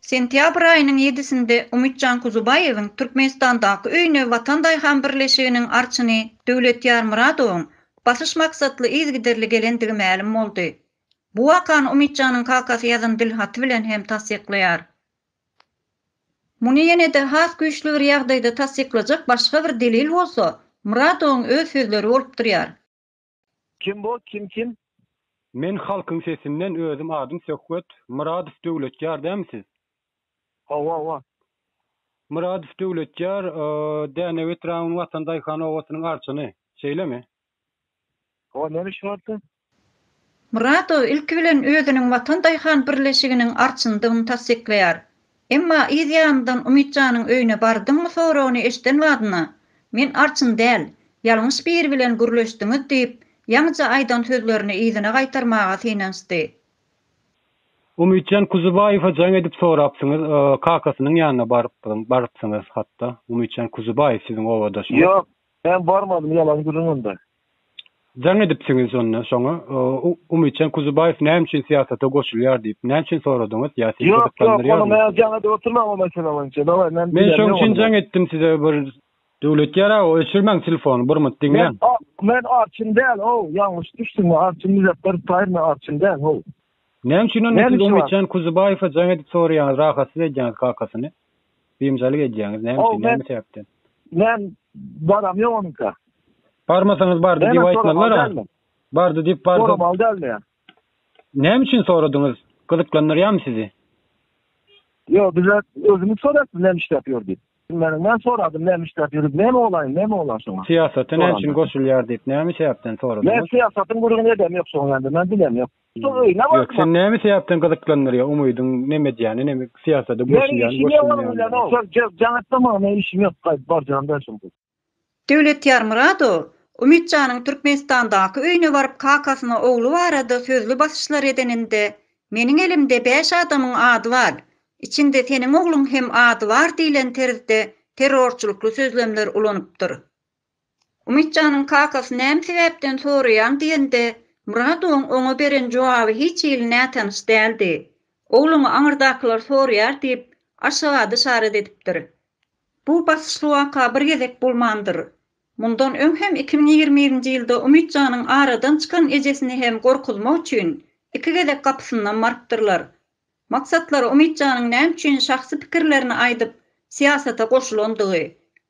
Sentýabr aýynyň ýedisinde Umytjan Kuzubaýewiň Türkmenistandaky öýüne Watan daýhan birleşiginiň arçyny Döwletýar Myradowyň basyş maksatly yzygiderli gelendigi mälim boldy. Bu wakany Umytjanyň kakasy ýazan dilhaty bilen hem tassyklaýar. Muny ýene-de has güýçli bir ýagdaýda tassyklajak başga bir delil bolsa, Myradowyň öz sözleri bolup durýar. Kim bu? Kim kim? Men halkyň sesinden özüm adym Söhbet Myradow Döwletýar dämi siz? Hawa hawa. Myradow Döwletýar Dänew etrabynyň Watan daýhan obasynyň arçyny. Şeýlemi? Hawa näme işiň bardy? Myradow ilki bilen özüniň Watan daýhan birleşiginiň arçynydygyny tassyklaýar. Emma yz ýanyndan Umyt janyň öýüne bardyňmy soragyny eşden badyna, Men arçyn däl, ýalňyş biri bilen gürleşdiňiz diýip, ýaňyja aýdan sözlerini yzyna gaýtarmaga synanyşdy. Umytjan Kuzubaýewe jaň edip sorapsyňyz, kakasynyň ýanyna barypsyň, barypsyňyz hat-da. Umytjan Kuzubaýew siziň obadaşyňyz. Ýok, men barmadym, ýalan gürrüň onda. Jaň edipsiňiz onda şoňa. Umytjan Kuzubaýew näme üçin syýasata goşulýar diýip, näme üçin soradyňyz? Ýa sizi gyzyklandyrýarmy? Ýok, ýok, ony men jaň edip oturman o mesele boýunça. Daway, men Men şoň üçin jaň etdim size bir Döwlet ýaragy, öçürmäň telefony, bir mut diňläň. Men arçyn däl, how, ýalňyş düşdüňmi? Arçyn Muzepperow Taýyr, men arçyn däl, how. Näme üçin onda siz Umytjan Kuzubaýewe jaň edip soraýaňyz, rahatsyz edýäňiz kakasyny? Biynjalyk edýäňiz näme üçin näme sebäpden. Men baram ýok onuňka. Barmasaňyz bardy diýip aýtmazlar a. Bardy diýip bardy. Soramaly däl men. Näme üçin soradyňyz? Gyzyklandyrýamy sizi? Ýok bize özümiz soraýas näme işläp ýör diýip. Bilmedim men soradym näme işläp ýörüp näme bolaýyn näme bolar şoňa. Syýasata näme üçin goşulýar diýip näme sebäpden soradyňyz? Men syýasatyň gürrüňini edem ýok şoň ýaly men bilem ýok. Ýok, sen näme sebäpden gyzyklandyrýar umydyň neme edýäni neme syýasada goşulýan goşulýan. Döwlet Ýarmyradow, Umyt janyň Türkmenistandaky öýüne baryp kakasyna ogly barada sözli basyşlar edeninde meniň elimde bäş adamyň ady bar, içinde seniň ogluň hem ady bar diýlen terzde terrorçylykly sözlemler ulanypdyr. Umytjanyň kakasy näme sebäpden soraýaň diýende, Myradowyň oňa beren jogaby hiç hili nätanyş däldi. Ogluňy aňyrdakylar soraýar diýip, Aşgabat yşarat edipdir. Bu basyşly waka bir gezek bolmandyr. Mundan öň hem iki müň ýigrimi birinji ýylda Umytjanyň aradan çykan ejesini hem gorkuzmak üçin iki gezek gapysyndan barypdyrlar. Maksatlary Umytjanyň näme üçin şahsy pikirlerini aýdyp, syýasata goşulandygy,